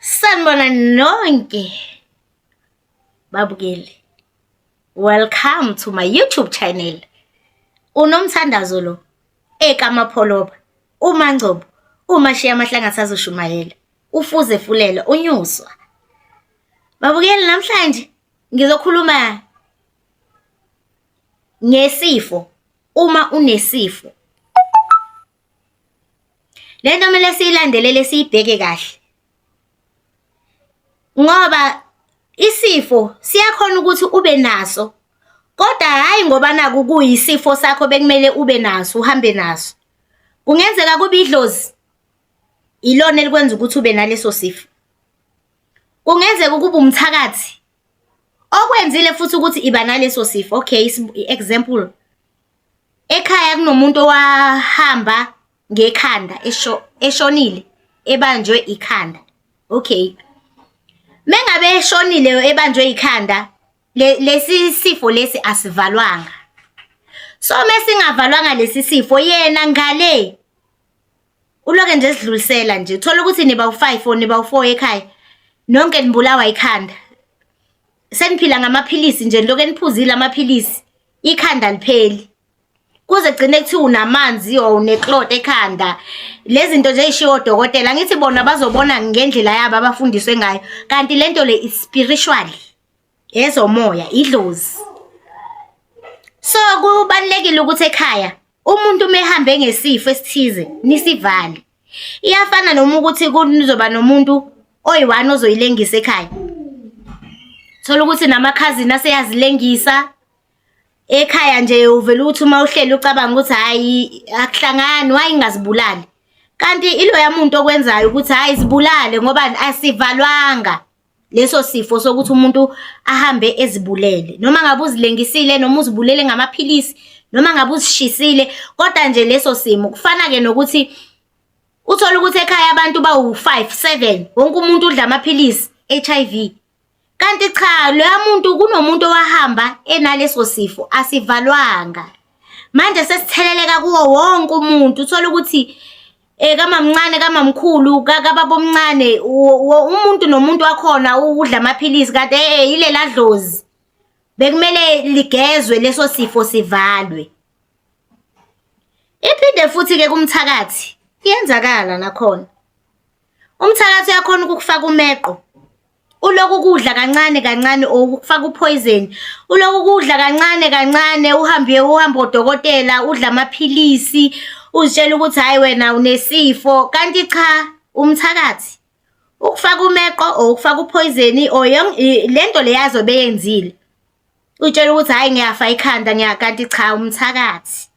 Sanibona nonke babukeli. Welcome to my YouTube channel. Unomthandazo lo ekamapholoba uMangcobo uMashiya amahlanga sazoshumayela ufuze fulela unyuswa. Babukeli namhlanje ngizokhuluma ngesifo uma unesifo Le nto kumele siyilandelele siyibheke kahle ngoba isifo siyakhona ukuthi ube naso kodwa hhayi ngoba naku kuyisifo sakho bekumele ube naso uhambe naso kungenzeka kube idlozi ilona elikwenza ukuthi ube naleso sifo kungenzeka ukuba umthakathi Okwenzile futhi ukuthi iba naleso sifo. Okay, example. Ekhaya kunomuntu owahamba ngekhanda esho eshonile ebanjwe ikhanda. Okay. Mengabe eshonile ebanjwe ikhanda lesi sifo lesi asivalwanga. So mesingavalwanga lesi sifo yena ngale uloke nje sidlulisela nje uthola ukuthi niba u-five or niba u-four ekhaya nonke nibulawa ikhanda seniphila ngamaphilisi nje lokho eniphuzile amaphilisi ikhanda lipheli kuze gcine kuthiwa unamanzi or uneklot ekhanda lezi zinto nje eyishiwo odokotela ngithi bona bazobona ngendlela yabo abafundiswe ngayo kanti lento le is spiritual yezomoya idlozi so kubalulekile ukuthi ekhaya umuntu uma ehambe ngesifo esithize nisivale iyafana noma ukuthi kuzoba nomuntu oyi-one ozoyilengisa ekhaya thola ukuthi namakhazini aseyazilengisa ekhaya nje uvele ukuthi uma uhleli ucabanga ukuthi hhayi akuhlangani waye ingazibulali kanti iloya muntu okwenzayo ukuthi hhayi zibulale ngoba asivalwanga leso sifo sokuthi umuntu ahambe ezibulele noma ngabe uzilengisile noma uzibulele ngamaphilisi noma ngabe uzishisile kodwa nje leso simo kufana ke nokuthi uthola ukuthi ekhaya abantu bawu5 7 wonke umuntu udla amaphilisi HIV kanti cha loya muntu kunomuntu owahamba enaleso sifo asivalwanga manje sesitheleleka kuwo wonke umuntu uthola ukuthi Eh kamamncane kamamkhulu kakababomncane umuntu nomuntu wakhona udla amaphilisi kanti eh, eh ilela dlozi bekumele ligezwe leso sifo sivalwe iphinde futhi ke kumthakathi iyenzakala nakhona umthakathi uyakhona ukukufaka umeqo uloku ukudla kancane kancane or ukufaka uphoyizeni uloku ukudla kancane kancane uhambe uhambe odokotela udla amaphilisi uzitshela ukuthi hhayi wena unesifo kanti cha umthakathi ukufaka umeqo or ukufaka uphoyizeni or le nto le yazobe yenzile utshela ukuthi hhayi ngiyafa ikhanda ngiyakanti cha umthakathi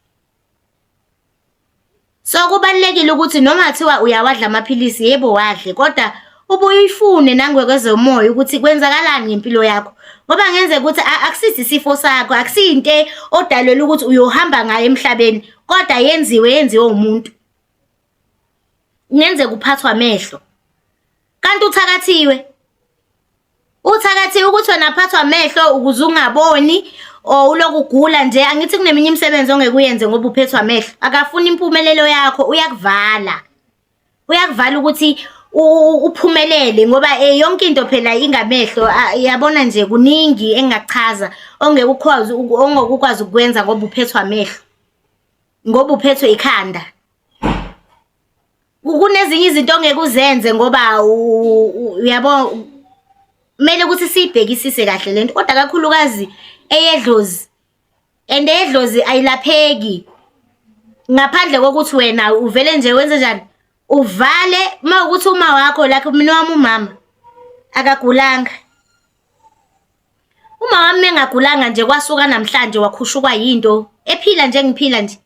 So kubalulekile ukuthi noma kuthiwa uyawadla amaphilisi yebo wadle kodwa ubuye uyifune nangokwezomoya ukuthi kwenzakalani ngempilo yakho ngoba ngenzeka ukuthi akusithi isifo sakho akusiyinto odalelwe ukuthi uyohamba ngayo emhlabeni kodwa yenziwe yenziwe umuntu kungenzeka uphathwa amehlo kanti uthakathiwe Uthakathi ukuthi wena phathwa amehlo ukuze ungaboni or ulokugula nje angithi kuneminye imisebenzi ongeke uyenze ngoba uphethwa amehlo akafuni impumelelo yakho uyakuvala uyakuvala ukuthi uphumelele ngoba eh, yonke into phela ingamehlo yabona nje kuningi engachaza ongeke ukwazi ongeke ukwazi ukwenza ngoba uphethwa amehlo ngoba uphethwe ikhanda kunezinye izinto ongeke uzenze ngoba uyabo kumele ukuthi siyibhekisise kahle lento kodwa kakhulukazi eyedlozi and eyedlozi ayilapheki ngaphandle kokuthi wena uvele nje wenze njani uvale uma ukuthi uma wakho lakhe mina wami umama akagulanga Umawami mengagulanga nje kwasuka namhlanje wakhushukwa yinto ephila nje ngiphila nje.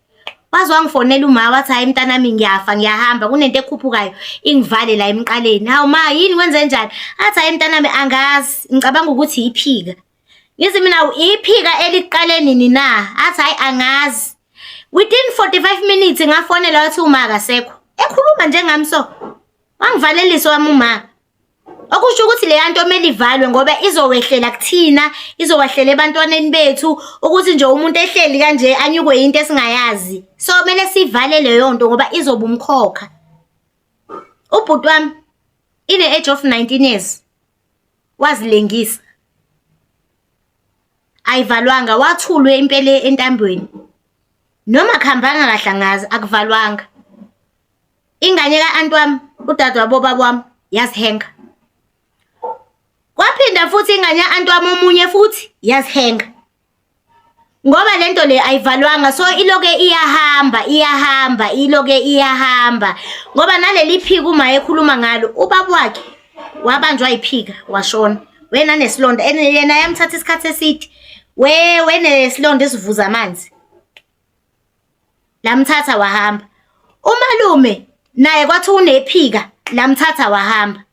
Waze wangifonela uma wathi hayi mntanami ngiyafa ngiyahamba kunento ekhuphukayo ingivale la emqaleni. Hawu ma yini wenze njani? Athi hayi mntanami angazi ngicabanga ukuthi iphika. Ngithi mina iphika eliqale nini na? Athi hayi angazi. Within 45 minutes ngafonela wathi uma akasekho. Ekhuluma njengami so. Wangivalelisa wami uma. Okusho ukuthi leya nto kumele ivalwe ngoba izowehlela kuthina, izowehlela ebantwaneni bethu ukuthi nje umuntu ehleli kanje anyukwe yinto esingayazi. So kumele sivale leyo nto ngoba izoba umkhokha. Ubhuti wami ine-age of 19 years wazilengisa. Ayivalwanga wathulwe impela entambweni. Noma kuhambanga kahle angazi akuvalwanga. ingane ka-anti wami udade wabobaba wami yazihenga kwaphinda futhi ingane ya-anti wami omunye futhi yazihenga ngoba le nto le ayivalwanga so iloke iyahamba iyahamba iloke iyahamba ngoba naleli phika uma ekhuluma ngalo ubaba wakhe wabanjwa yiphika washona wena nesilonda and yena yamthatha isikhathi eside we wenesilonda esivuza amanzi lamthatha wahamba. Umalume naye kwathi unephika lamthatha wahamba.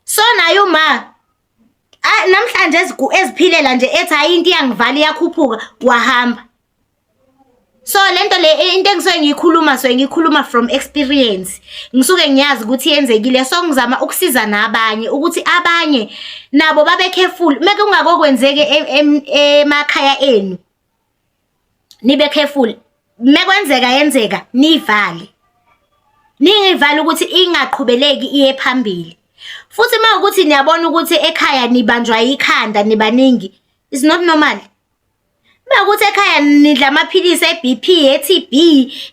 So naye uma ah, namhlanje eziphilela nje ethi hayi into iyangivala iyakhuphuka wahamba. So lento le eh, into engisuke ngiyikhuluma so ngikhuluma from experience. Ngisuke ngiyazi ukuthi yenzekile so ngizama ukusiza nabanye ukuthi abanye nabo babe careful meke ungakokwenzeke e, e, emakhaya enu. nibe careful mekwenzeka yenzeka nivale ningivale ukuthi ingaqhubeleki iye phambili futhi uma ukuthi niyabona ukuthi ekhaya nibanjwa ikhanda nibaningi is not normal uma ukuthi ekhaya nidla amaphilisi e-BP e-TB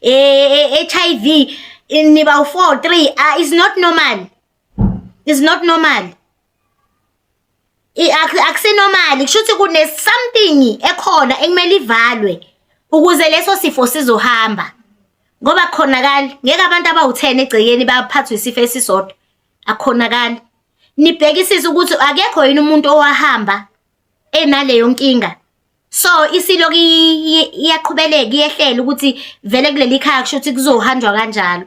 e-HIV e, e, e, niba u-4 3 ah, is not normal is not normal akusenormali kusho ukuthi kune something ekhona ekumele ivalwe ukuze leso sifo sizohamba ngoba khonakali ngeke abantu abawu-10 egcekeni baphathwe isifo esisodwa akhonakali nibhekisise ukuthi akekho yini umuntu owahamba enaleyo nkinga so isiloku iyaqhubeleka iyehlela ukuthi vele kuleli khaya kusho ukuthi kuzohanjwa kanjalo